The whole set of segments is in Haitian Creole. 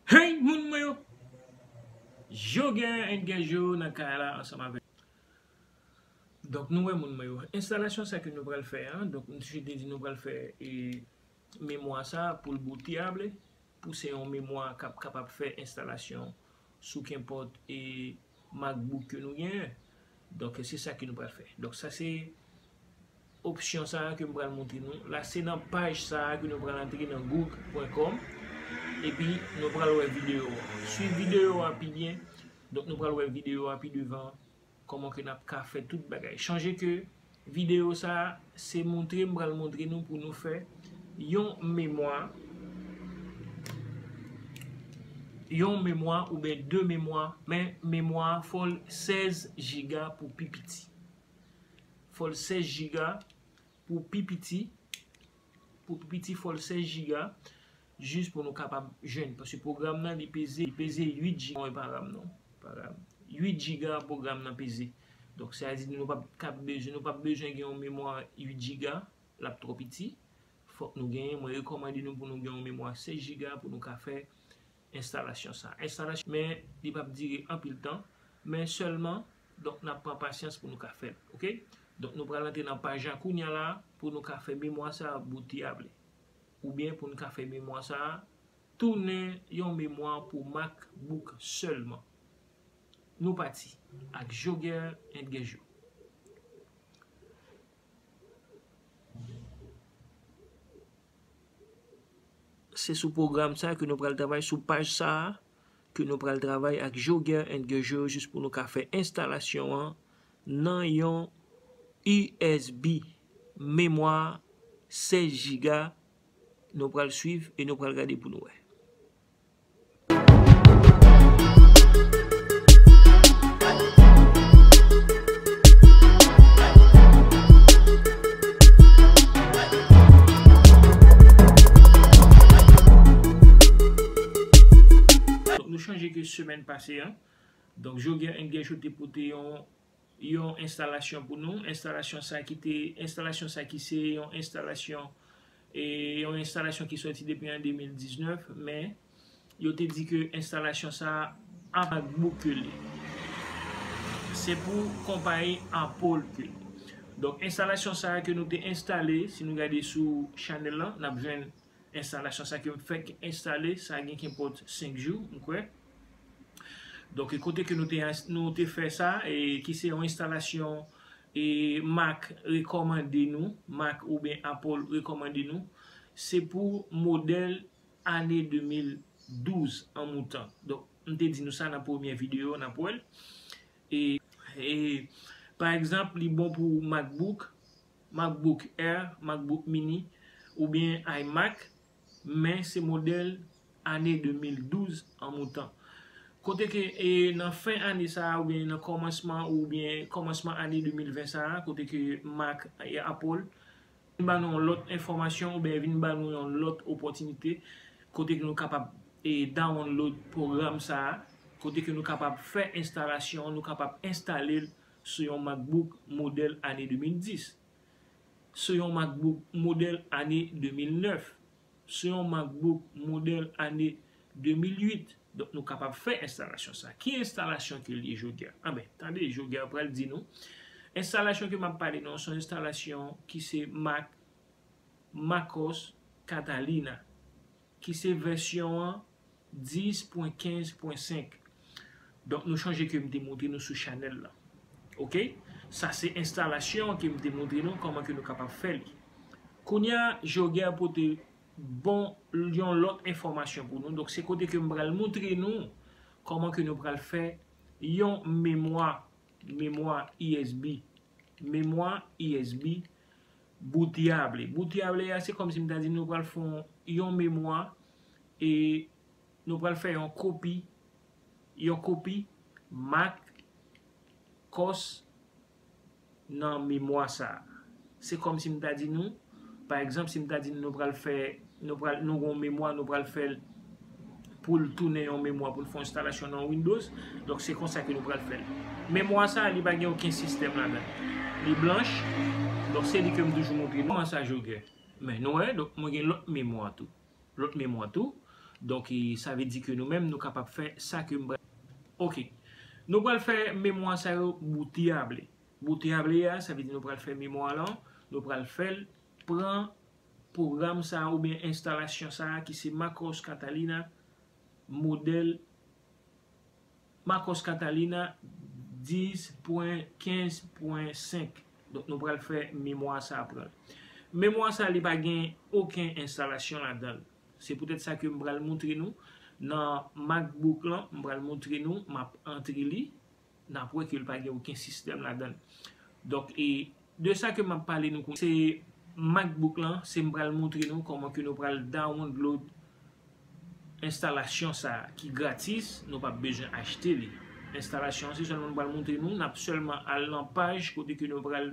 Hey moun mwen yo! Joger and Guerjot nan kay la ansanm avèk nou. Donk nou wè moun mwen yo. Enstalasyon sa ke nou pral fè an, donk misye te di nou pral fè memwa sa pou l bouteyable, pou se yon memwa k ap kapab fè enstalasyon sou kenpòt MacBook ke nou gen. Donk se sa ke nou pral fè. Donk sa se opsyon sa a ke m pral montre nou. La se nan paj sa a ke nou pral antre nan google.com. E pi nou pral wè videyo a. Swiv videyo a pi byen. Donk nou pral wè videyo a pi devan. Koman ke n ap ka fè tout bagay. Chanje ke. Videyo sa a, se montre m pral montre nou pou nou fè yon memwa, yon memwa oubyen 2 memwa, men memwa a fò l 16 jiga pou pi piti. Fò l 16 jiga pou pi piti, pou pi piti fò l 16 jiga. Jis pou nou kapab jwenn paske pwogram nan li peze li peze 8 jiga mwen pa ram non pa ram 8 jiga pwogram nan peze donk sa di nou pap kab bezwen nou pap bezwen gen yon memwa 8 jiga lap twò piti fòk nou gen mwen rekòmande nou pou nou gen yon memwa 16 jiga pou nou ka fè enstalasyon sa enstalasyon men li pap dire anpil tan men sèlman donk nap pran pasyans pou nou ka fèl ok donk nou pral antre nan paj la kounya la pou nou ka fè memwa sa bouti a vle. Oubyen pou n ka fè memwa sa a tounen yon memwa pou MacBook sèlman. Nou pati ak Joger and Guerjo. Se sou pwogram sa a ke nou pral travay sou paj sa a. ke nou pral travay ak Geoger and Geoger jis pou nou ka fè enstalasyon an nan yon usb memwa 16 jiga nou pral swiv e nou pral gade pou nou wè. Donk nou chanje ke semèn pase an, donk Joguer and Guercho te pote yon yon enstalasyon pou nou, enstalasyon sa ki te, enstalasyon sa ki se yon enstalasyon e yon enstalasyon ki sòti depi an 2019, men yo te di ke enstalasyon sa ap ak bouk ke li. Se pou konpayi Apple ke li. Donk enstalasyon sa ke nou te enstale, si nou gade sou chanèl lan, n ap jwenn Enstalasyon sa ke m fèk enstale sa gen kenpòt 5 jou m kwè. Donk e kote ke nou te nou te fè sa e ki se yon enstalasyon e mak rekòmande nou, mak oubyen Apple rekòmande nou, se pou modèl ane 2012 an moutan. Donk m te di nou sa nan premye videyo an n ap wè l. E e pa egzanp li bon pou MacBook. MacBook Air, MacBook Mini, oubyen iMac, men se modèl ane 2012 an moutan. Kote ke nan fen ane sa a oubyen nan kòmansman oubyen kòmansman ane 2020 sa a, kote ke Mac e Apple vin ba nou yon lòt enfòmasyon oubyen vin ba nou yon lòt opòtinite kote ke nou kapab dawonlod pwogram sa a, kote ke nou kapab fè enstalasyon, nou kapab enstale l sou yon MacBook modèl ane 2010, sou yon MacBook modèl ane 2009, sou yon MacBook modèl ane 2008. Donk nou kapab fè enstalasyon sa. Ki enstalasyon ke l ye jodi a? Anben, tande, jodi a pral di nou. Enstalasyon ke m ap pale nou an se yon enstalasyon ki se mak MacOS Catalina. ki se vèsyon an 10.15.5 donk nou chonje ke m te montre nou sou chanèl la ok sa se enstalasyon an ke m te montre nou kòman ke nou kapab fè li kounya Geoguerre pote bon yon lòt enfòmasyon pou nou donk se kote ke m pral montre nou kòman ke nou pral fè yon memwa memwa usb memwa usb Boutyable. Boutyable a se kòm si m ta di nou pral fon yon memwa e nou pral fè yon kopi yon kopi mak kòs nan memwa sa. Se kòm si m ta di nou pa egzanp si m ta di nou nou pral fè Nou pral nou gen yon memwa nou pral fèl poul tounen yon memwa poul fè yon enstalasyon nan windows donk se konsa ke nou pral fèl memwa sa li pa gen oken sistèm ladann li blanch donk se li kem toujou montre nou sa je gen men nou wè donk mwen gen lòt memwa tou lòt memwa tou donk sa vle di ke nou menm nou kapab fè sa kem pral ok nou pral fè memwa sa yo bouteyable bouteyable ya sa vle di nou pral fè memwa lan nou pral fèl pran pwogram sa a oubyen enstalasyon sa a ki se Marcos Catalina modèl Marcos Catalina 10.15.5 donk nou pral fè memwa sa a pran l. Memwa sa a li pa gen oken enstalasyon ladan l se poutèt sa ke m pral moutre nou nan MacBook lan m pral moutre nou m ap antre li N ap wè ke l pa gen oken sistèm ladan l. Donk, e de sa ke m ap pale nou kounye a, se MacBook lan, se m pral montre nou kòman ke nou pral dawonload enstalasyon sa a ki gratis, nou p ap bezwen achte li. Enstalasyon an se sèlman m pral montre nou, n ap sèlman al nan paj kote ke nou pral.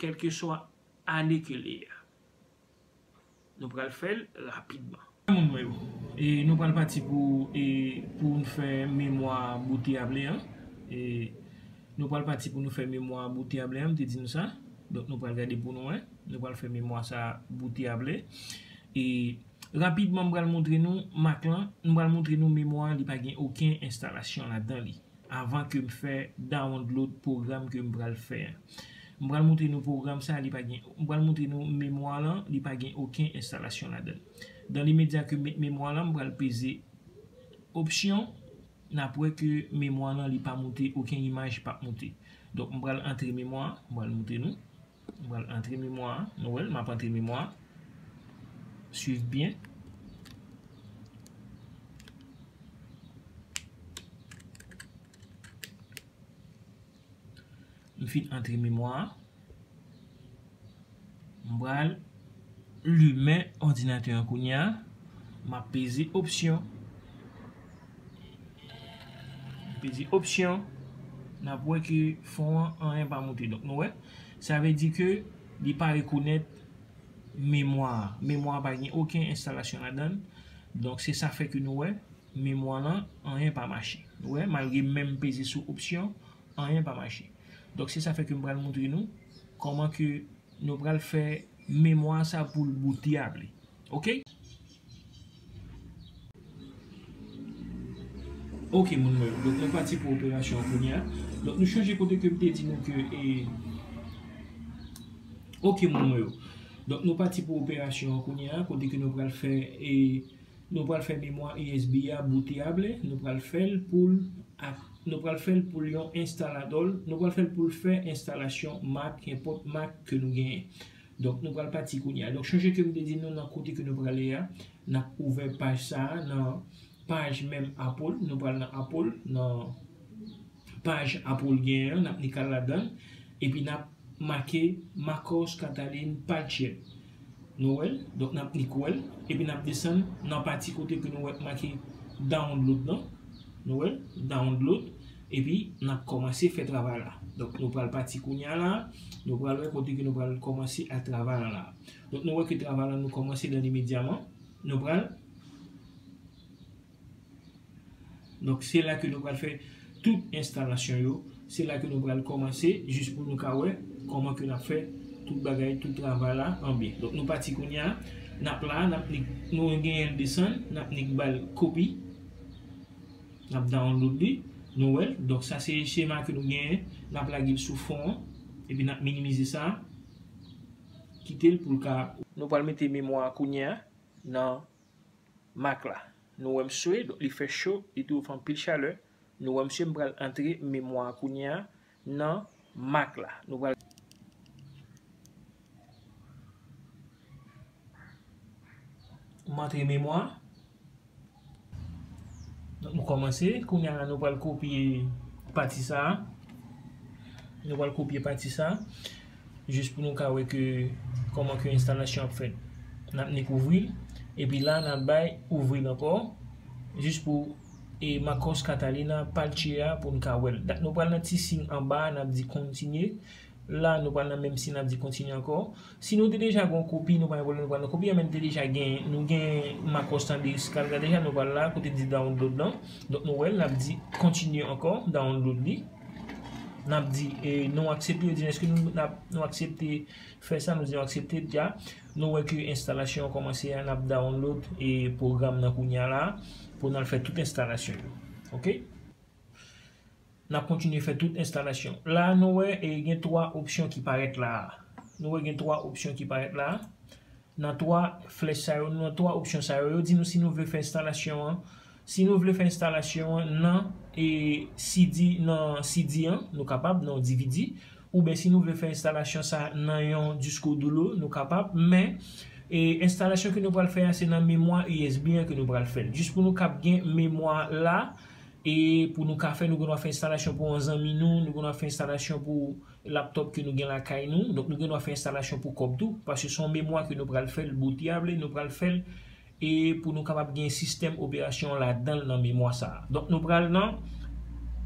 kèlkeswa ane ke li a. Nou pral fè l rapidman. Moun mwen yo, e nou pral pati pou e pou nou fè memwa bote a ble an. E nou pral pati pou nou fè memwa bote a ble an, m te di nou sa. Donk nou pral gade pou nou wè. Nou pral fè memwa sa bote a ble. E rapidman m pral montre nou mak lan, m pral montre nou memwa li pa gen oken enstalasyon ladan li. Avan ke m fè download pwogram ke m pral fè a. M pral moutre nou pwogram sa li pa gen m pral moutre nou memwa lan li pa gen oken enstalasyon ladann. Dan le medya ke m met memwa lan m pral peze opsyon n ap wè ke memwa lan li pa moute oken imaj pap moute. Donk m pral antre memwa m pral moutre nou. M pral antre memwa a. Nou wè l? M ap antre memwa a. Swiv byen. M fin antre memwa a. M pral limen òdinatè an kounye a. M ap peze opsyon. Li di option nap wè ke fon an anyen pa moute donk nou wè sa vle di ke li pa rekonèt memwa a memwa a pa gen oken enstalasyon ladann donk se sa fè ke nou wè memwa lan anyen pa mache nou wè malgre m menm peze sou option anyen pa mache donk se sa fè ke m pral montre nou kòman ke nou pral fè memwa sa pou l boute ap li. Ok Ok moun mwen Donk mwen pati pou operasyon an kounya Donk nou chanje kote ke m te di nou ke e Ok moun mwen Donk nou pati pou operasyon an kounya Kote ke nou pral fè e Nou pral fè memwa usb a bootable Nou pral fè l pou l ak Nou pral fè l pou l yon instalador Nou pral fè l pou l fè enstalasyon Mac Enpòt Mac ke nou genyen Donk nou pral pati kounye a. Donk chonje ke m te di nou nan kote ke nou prale a, n ap ouvè paj sa a nan paj menm Apple. Nou pral nan Apple, nan paj Apple genyen an, n ap knika ladan l, epi n ap make Marcos Catalin Padgett. Nou wè l? Donk n ap knik wè l, epi n ap desann nan pati kote ke nou wè k make Download lan. Nou wè l? Download. Epi, n ap kòmanse fè travay la. Donk, nou pral pati kounye a la a, nou pral wè kote ke nou pral kòmanse ak travay la la a. Donk, nou wè ke travay la nou kòmanse dan limedyaman. Nou pral. Donk, se la ke nou pral fè tout enstalasyon yo. Se la ke nou pral kòmanse jis pou nou ka wè kòman ke n ap fè tout bagay, tout travay la an byen. Donk, nou pati kounye a. N ap la a, n ap nik, nou genyen desann, n ap nik ba l kopi. N ap download li, nou wè l. Donk sa se chema ke nou genyen. N ap lage l sou fon an. Epi n ap minimize sa. Kite l pou l ka. Nou pral mete memwa a kounye a nan Mac la. Nou wè mswe, donk li fè cho, li touf anpil chalè. Nou wè mswe m pral antre memwa a kounye a. nan mak la. Nou pral. Montre memwa. Donk nou kòmanse. Kounye a la nou pral kopye pati sa a. Nou pral kopye pati sa a. Jis pou nou ka wè ke kòman ke enstalasyon ap fèt. N ap nik ouvri l. Epi la n ap bay ouvri l ankò. Jis pou. e Marcos Catalina pal tchea poun ka wèl dat nou pral nan ti sign anba a nap di kontinye la nou pral nan menm sign nap di kontinye ankò si nou te deja gon kopi nou pa gen pwoblèm nou pral nan kopi a men nou te deja gen nou gen Marcos tande esclave la deja nou pral la kote li di download lan donk nou wèl nap di kontinye ankò download li nap di nou aksepte yo di eske nou aksepte Fè sa nou di aksepte dja. Nou wè ke enstalasyon an kòmanse a nap download e pwogram nan kounya la pou nal fè tout enstalasyon yo ok nap kontinye fè tout enstalasyon la nou wè e gen 3 opsyon ki parèt la a nou wè gen 3 opsyon ki parèt la a nan 3 flèch sa yo nan 3 opsyon sa yo yo di nou si nou vle fè enstalasyon an Si nou vle fè enstalasyon an nan CD nan CD an, nou kapab, nan yon dvd, ouben si nou vle fè enstalasyon sa nan yon disko dulo, nou kapab, men enstalasyon ke nou pral fè a se nan memwa usb an ke nou pral fèl. Jis pou nou kab gen memwa la e pou nou ka fè, nou gen dwa fè enstalasyon pou yon zanmi nou, nou gen dwa fè enstalasyon pou laptop ke nou gen lakay nou, donk nou gen dwa fè enstalasyon pou kòb tou, paske son memwa ke nou pral fèl, bootable, nou pral fèl. E pou nou kapab gen sistèm operasyon ladan l nan memwa sa a. Donk nou pral nan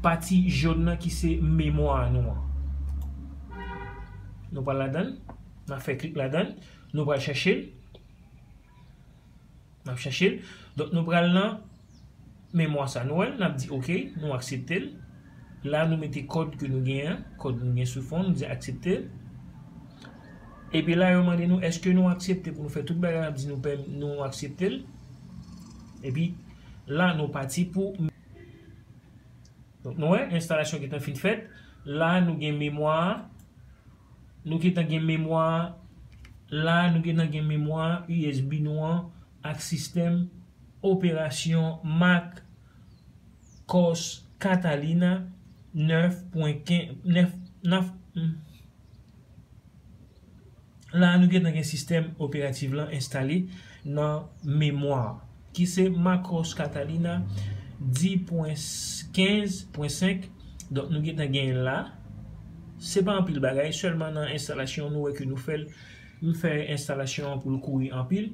pati jòn nan ki se memwa a nou an. Nou pral ladan l. N ap fè klik ladan l. Nou pral chache l. N ap chache l. Donk nou pral nan. memwa sa nou wèl nap di ok nou akseptel la nou mete kòd ke nou gen an kòd nou gen sou fon nou di aksepte epi la yo mande nou eske nou aksepte pou nou fè tout bagay nap di nou pè nou akseptel epi la nou pati pou nou wè enstalasyon gentan fin fèt la nou gen memwa nou gentan gen memwa la nou gentan gen memwa usb nou an ak sistèm Operasyon Mak Kòs Katalina 9 pwen 15 9 nap La a nou gentan gen sistèm operativ lan enstale nan memwa a ki se Mak Kòs Katalina 10 pwen 15 pwen 5 donk nou gentan genyen la se pa anpil bagay sèlman nan enstalasyon nou wè ke nou fèl m fè enstalasyon an poul kouri anpil.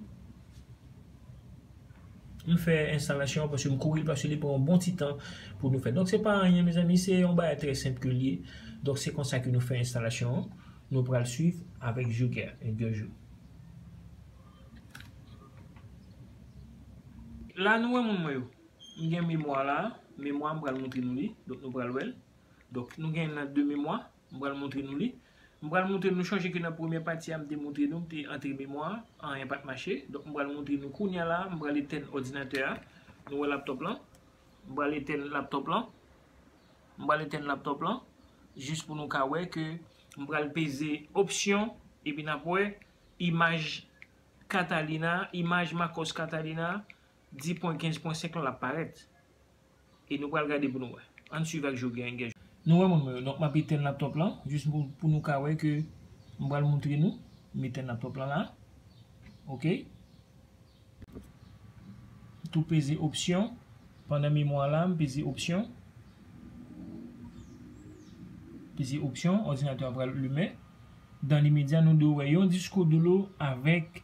M fè enstalasyon an paske m kouri l paske li pran yon bon ti tan pou nou fè. Donk se pa anyen mezanmi se yon bagay trè senp ke l ye. Donk se konsa ke nou fè enstalasyon an. Nou pral swiv avèk Joker en deux jours. La nou wè moun mwen yo. M gen memwa la. Memwa m pral montre nou li. Donk nou pral wè l. Donk nou gen nan 2 memwa. M pral montre nou li. M pral montre nou chonje ke nan premyè pati a m te montre nou m te antre memwa a, anyen pat mache. Donk m pral montre nou kounya la a, m pral etèn òdinatè a. Nou wè laptop lan? M pral etèn laptop lan. M pral etèn laptop lan jis pou nou ka wè ke m pral peze opsyon epi n ap wè imaj Catalina, imaj Marcos Catalina 10.15.5 lan l ap parèt. E nou pral gade pou nou wè. Ann swiv ak Joe. Nou wè moun mwen yo. Donk map etèn laptop lan jis pou nou ka wè ke m pral moutre nou. M etèn laptop lan la. Ok. M tou peze opsyon. Pandan memwa la m peze opsyon. Peze opsyon. Òdinatè a pral limen. Dan limedya nou dwe wè yon disko dlo avèk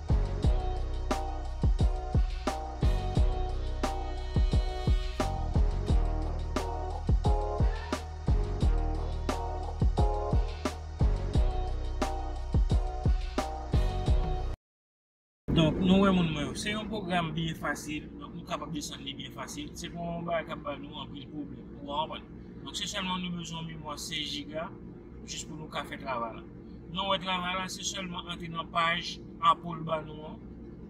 Donk nou wè moun mwen yo, se yon pwogram byen fasil, donk nou kapab desann li byen fasil, se pa yon bagay k ap ba nou anpil pwoblèm, ou konprann? Donk se sèlman nou bezwen yon memwa 16 jiga. Jis pou nou ka fè travay la. Nou wè travay la se sèlman antre nan paj Apple l ba nou an,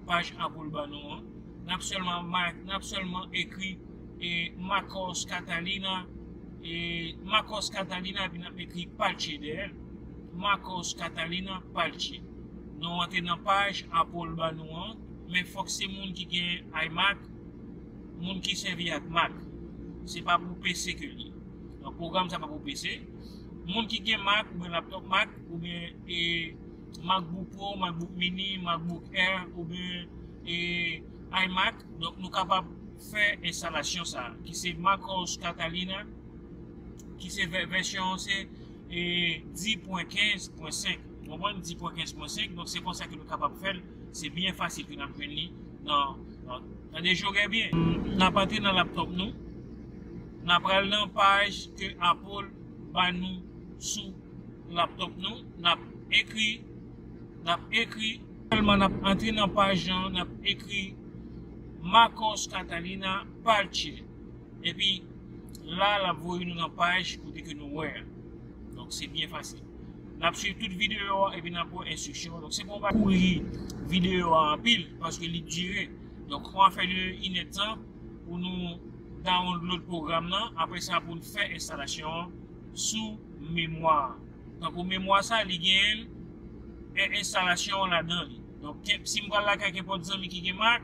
paj Apple l ba nou an. Nap sèlman ma, nap sèlman ekri e Marcos Catalina e Marcos Catalina epi nap ekri Palche dèyè l. Marcos Catalina Palche. Nou antre nan paj Apple l ba nou an, men fòk se moun ki gen iMac, moun ki sèvi ak Mac. Se pa pou PC ke l ye. Pwogram sa pa pou PC. Moun ki gen Mac oubyen laptop Mac oubyen e MacBook Pro, MacBook Mini, MacBook Air oubyen e iMac, donk nou kapab fè enstalasyon sa ki se MacOS Catalina ki se vèsyon an se 10.15.5 konprann 10.15.5 donk se konsa ke nou kapab fèl. Se byen fasil pou nap jwenn li nan Tande Jogè byen. Nap antre nan laptop nou. Na pral nan paj ke Apple ba nou sou laptop nou. Nap ekri, nap ekri. Sèlman nap antre nan paj lan, nap ekri Macos Catalina Parche. Epi la lap voye nou nan paj kote ke nou wè a. Donk se byen fasil. Nap swiv tout videyo a epi nap wè enstriksyon yo. Donk se pou ou pa kouri videyo a anpil paske li dire. Donk kòman ap fè li yon inèdtan pou nou download pwogram nan apre sa pou nou fè enstalasyon an sou memwa a. Tankou memwa sa li gen enstalasyon an ladan li. Donk kèk si m pral lakay kenpòt zanmi ki gen Mac,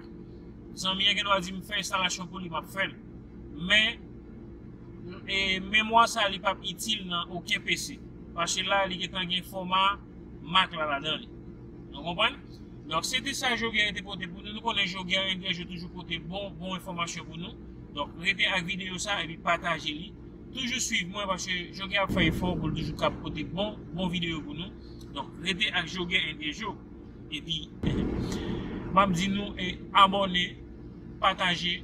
zanmi an gendwa di m fè enstalasyon pou li map fè l. Men E memwa sa li pap itil nan oken PC. Paske la li gentan gen foma Mac la ladan li. Nou konprann? Donk se te sa Joguerre te pote pou nou. Nou konnen Joguerre en Grèce yo toujou pote bon bon enfòmasyon pou nou. Donk rete ak videyo sa epi pataje li. Toujou swiv mwen paske Joguerre ap fè efò pou l toujou kab pote bon bon videyo pou nou. Donk rete ak Joguerre en Grèce yo. Epi map di nou abòne, pataje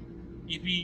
epi